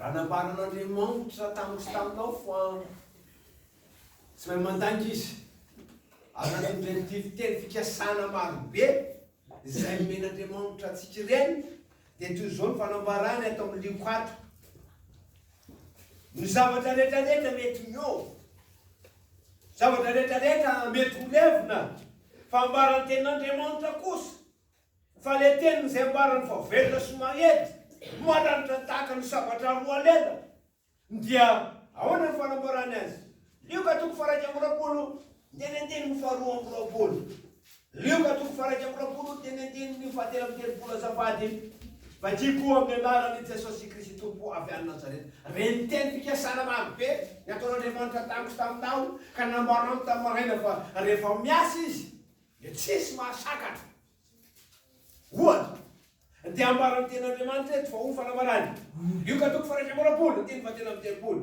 Raha nambaran'Andriamanitra tamiko sy taminao fa tsy mahay mandainga izy, ary nanondreny fiviteny fikasana marobe izay nomen'Andriamanitra antsika ireny, dia toy izao ny fanambarany ato amin'ny lioko ato. Ny zavatra rehetrarehetra mety miova, zavatra rehetrarehetra mety ho levona, fa ambaran'ny tenin'Andriamanitra kosa Fa le teniny zay ambarany fa velona sy mahery, maranitra tahaka ny sabatra roa lela, dia ahoana ny fanambarany azy? Lioka toko faharaika amby roapolo teny andinin'ny faharoa amby roapolo Lioka toko faharaika amby roapolo teny andinin'ny fahatelo amby telopolo Azafady, Vakiko amin'ny anaran'i Jesosy Kristy Tompo avy any Nazareta, reny teny fikasana marobe nataon'Andriamanitra tamiko taminao ka nambarany tamin'ny maraina fa rehefa miasa Izy Dia tsisy mahasakatra. Ohatra, dia ambaran'ny Tenin'Andriamanitra eto fa ho fanamarany, io ka toko faraika amby roapolo, andininy fahatelo amby telopolo,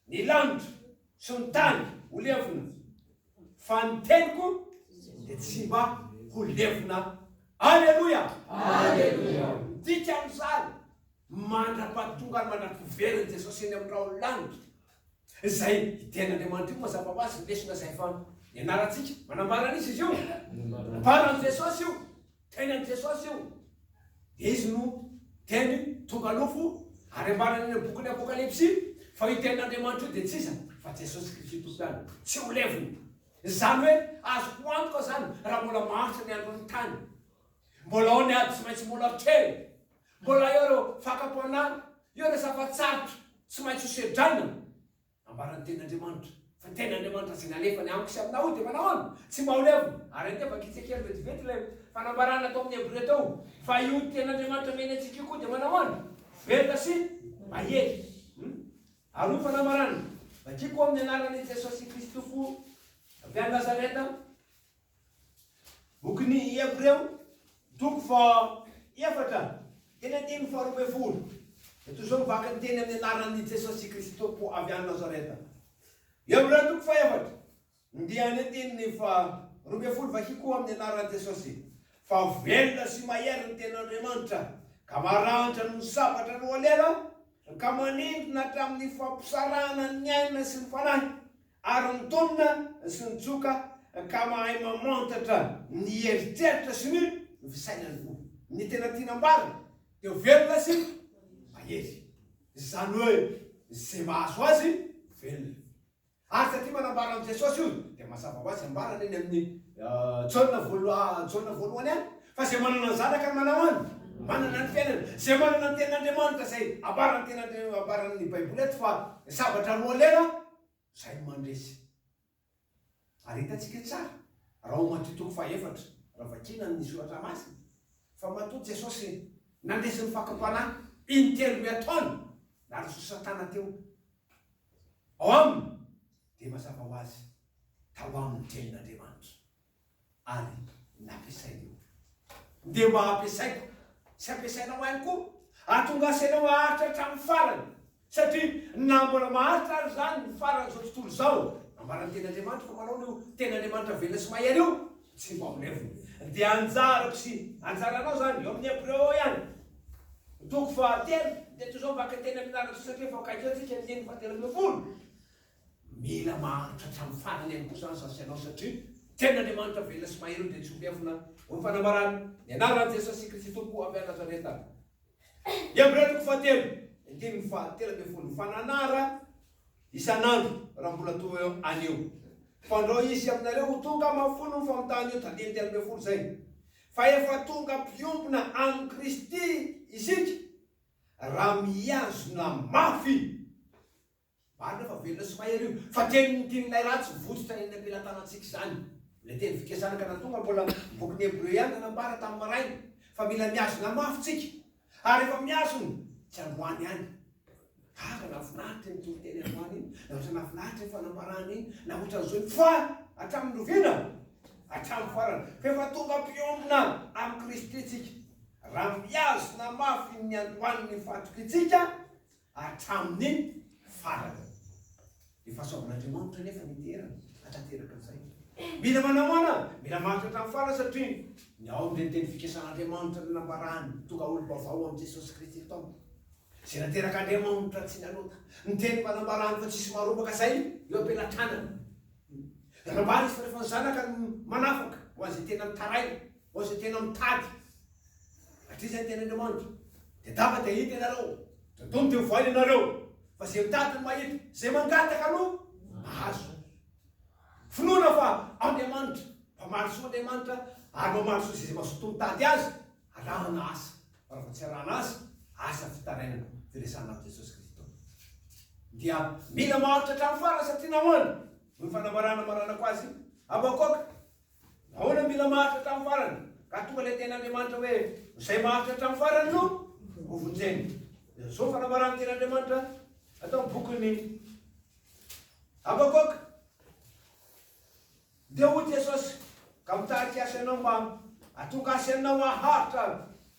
Ny lanitra sy ny tany ho levona, fa ny teniko dia tsy mba ho levona. Aleloia! Aleloia! Midika an'izany, mandra-pahatongany, mandra-piveren'i Jesosy eny amin'ny rahon'ny lanitra, Izay i Tenin'Andriamanitra io mazava ho azy ny lesona izay efa nianarantsika. Manambara an'iza izy io? Manambara an'i Jesosy io. Teny an'i Jesosy io. Izy no teny tonga nofo ary ambarany any amin'ny bokin'ny Apokalypsy fa io Tenin'Andriamanitra io dia tsy iza fa Jesosy Kristy Tompoany. Tsy ho levona. Izany hoe azoko antoka izany raha mbola maharitra ny andron'ny tany. Mbola ao ny ady tsy maintsy mbola kely. Mbola eo ireo fakam-panala, eo ireo zava-tsarotra tsy maintsy hosedraina. Nambaran'ny Tenin'Andriamanitra fa ny Tenin'Andriamanitra izay nalefany amiko sy aminao dia manao ahoana? Tsy mba ho levona. Ary anie efa gitsy kely vetivety ilay fanambarana tao amin'ny Hebrea tao fa io Tenin'Andriamanitra mihena antsika io koa dia manao ahoana? Velona sy mahery. Ary hoy fanambarana, Vakiko amin'ny anaran'i Jesosy Kristy Tompo avy any Nazareta, Bokin'ny Hebreo, toko faha-efatra, teny andininy faharoa ambin'ny folo, dia toy izao mivaky ny teny amin'ny anaran'i Jesosy Kristy Tompo avy any Nazareta. Hebreo toko faha-efatra, andiany andininy faharoa ambin'ny folo, Vakio koa amin'ny anaran'i Jesosy, fa velona sy mahery ny Tenin'Andriamanitra, ka maranitra noho ny sabatra roa lela, ka manindrona hatramin'ny fampisarahana ny aina sy ny fanahy, Ary ny tolona sy ny tsoka ka mahay mamantatra ny eritreritra sy ny fisainan'ny fo. Ny tena tiana amboarina dia ho velona sy mahery. Izany hoe izay mahazo azy velona. Ary taty manambara amin'i Jesosy io dia mazava ho azy ambarany eny amin'ny Jaona voaloha Jaona voalohany any fa izay manana ny zanaka no manao any manana ny fiainana. Izay manana ny tenin'Andriamanitra izay ambaran'ny tena ambaran'ny baiboly eto fa zavatra roa lera. izay no mandresy. Ary hitantsika tsara, raha ao Matio toko fahaefatra, raha vakiana ny Soratra Masina, fa matoa Jesosy nandresy ny fakam-panahy in-telo ny ataony naroso Satana teo ao Aminy, dia mazava ho azy, tao Aminy ny Tenin'Andriamanitra. ary nampiasain'io. Dia mba ampiasaiko sy ampiasainao ihany koa. Atongaso ianao haharitra hatramin'ny farany, satria na mbola maharitra ary izany ny faran'izao tontolo izao, nambaran'ny Tenin'Andriamanitra fa manao an'io Tenin'Andriamanitra velona sy mahery io, tsy ho amboleviny. Dia anjarako sy anjaranao izany, eo amin'ny Hebreo ao ihany. Toko fahatelo, dia toy izao, Vakiteny amin'ny lahatsoratra efa akaiky eo tsika ny teny fahatelo ambin'ny folo. Mila maharitra hatramin'ny farany ihany koa izany sasy ianao satria tena Andriamanitra velona sy mahery ny dia tsy ho miafina ho fanambarany ny anaran'i Jesosy Kristy Tompo avy any Nazareta. Hebrea toko fahatelo, andininy fahatelo ambin'ny folo Mifananara isan'andro raha mbola toa eo anio fandrao hisy aminareo ho tonga mahafolony famitahana io tandininy telo ambin'ny folo izay fa efa tonga mpiompona amin'i Kristy isika raha mihazona mafy Marina fa velona sy mahery io, fa tenin'ny mpirinay ratsy mivotsitra eny am-pelatanantsika izany. Ilay teny fikasana ka na tonga mbola amin'ny bokin'ny Hebreo ihany nanambara tamin'ny maraina fa mila mihazona mafy tsika. Ary rehefa mihazona, tsy androany ihany. Gaga nahafinaritra iny toriteny androany iny, na ohatran'ny nahafinaritra iny fanambarana iny, na ohatran'izao iny, fa hatramin'ny loviana, hatramin'ny farany, fa efa tonga mpiombona amin'i Kristy tsika, raha mihazona mafy ny niandohan'ny fatrikitsika, hatramin'ny farany. Ny fahasoavan'Andriamanitra anefa no iterany hanatanteraka an'izay. Mila manahoana? Mila mandritra hatramin'ny farany satria ny ao amin'ireny teny fikasan'Andriamanitra no nambarany ho tonga olom-baovao amin'i Jesosy Kristy ny taona. Izay naterak'Andriamanitra tsy nanota. Ny teny mba nambarany fa tsy hisy marombaka izay eo am-pelatranany. Nambarany izy fa rehefa ny Zanaka no manafaka ho an'izay tena mitaraina, ho an'izay tena mitady, Hatria izay ny tenin'Andriamanitra. Dia daba dia hita ianareo, dia dono dia ho voaina ianareo. Fa izay mitady no mahita, izay mangataka no mahazo. Finoana fa Andriamanitra, mpamaly soa Andriamanitra, ary mamaly soa izay mazotoa mitady Azy, arahana asa, fa raha vao tsy arahana asa, asa fitarainana, firesahana amin'i Jesosy Kristy Tompo. Dia mila maharitra hatramin'ny farany satria nahoana? Noho ny fanambarana maranako azy, Habakoaka, Ahoana no mila maharitra hatramin'ny farany? Ka tonga ilay tenin'Andriamanitra hoe, Izay maharitra hatramin'ny farany no hovonjeny. Dia izao fanambaran'ny tenin'Andriamanitra ato amin'ny bokin'ny Habakoka. Dia hoy Jesosy, ka mitarika azy ianao mba hatonga azy ianao haharitra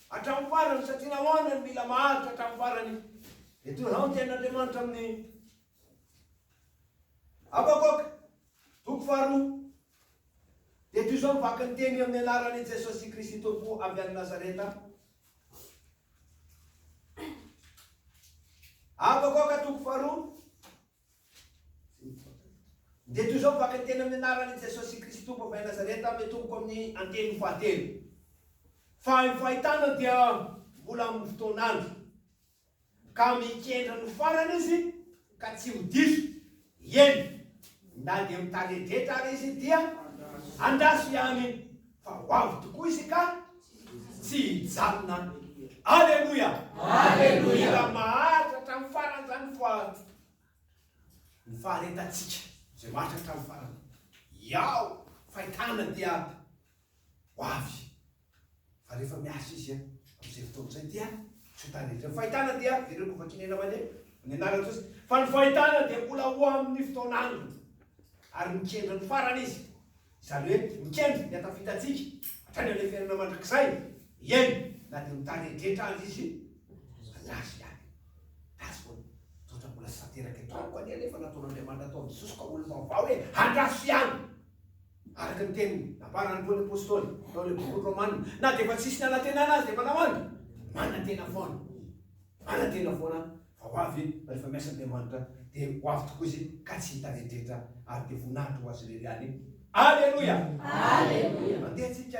hatramin'ny farany, satria nahoana no mila maharitra hatramin'ny farany? Dia toy izao ny tenin'Andriamanitra amin'ny Habakoka, Toko faharoa dia toy izao ny vakin'ny teny amin'ny anaran'i Jesosy Kristy Tompo avy any Nazareta. Habakoaka toko faharoa dia toy izao ny vakin'ny teny amin'ny anaran'i Jesosy Kristy Tompo avy any Nazareta mitomboko amin'ny anteny fahatelo. Fa ny fahitana dia mbola amin'ny fotoan'andro. Ka mikendry ny farany izy ka tsy ho diso, eny, na dia mitaredretra ary izy dia andraso ihany fa ho avy tokoa izy ka tsy hijanona. Aleloia! Mila maharitra hatramin'ny farany izany fa ny faharetantsika izay maharitra hatramin'ny farany. Iao, fahitana dia ho avy Fa rehefa miasa izy amin'izay fotoana izay dia tsy ho tara izy. Ny fahitana dia very lova kinena mandeha amin'ny anaran'i Jesosy. Fa ny fahitana dia mbola ho amin'ny fotoan'aliny. Ary mikendry ny farany izy. Izany hoe mikendry ny hatafitantsika hatrany amin'ny fiainana mandrakizay. Eny, na dia mitaredretra aza izy andraso ihany. That's what. Toetra mbola tsy tanteraka eto amiko anie ilay efa nataon'Andriamanitra ataon'i Jesosy ka olom-baovao hoe andraso ihany. Araka ny teny nambaran'i Paoly Apostoly tao ilay bokin'ny Romana, na dia efa tsisy nanantenana azy dia efa nahoany? Manantena foana. Manantena foana fa ho avy rehefa miasa Andriamanitra, dia ho avy tokoa izy ka tsy hita retretra ary dia voninahitra ho azy irery ihany. Aleloia! Aleloia! Mandeha tsika.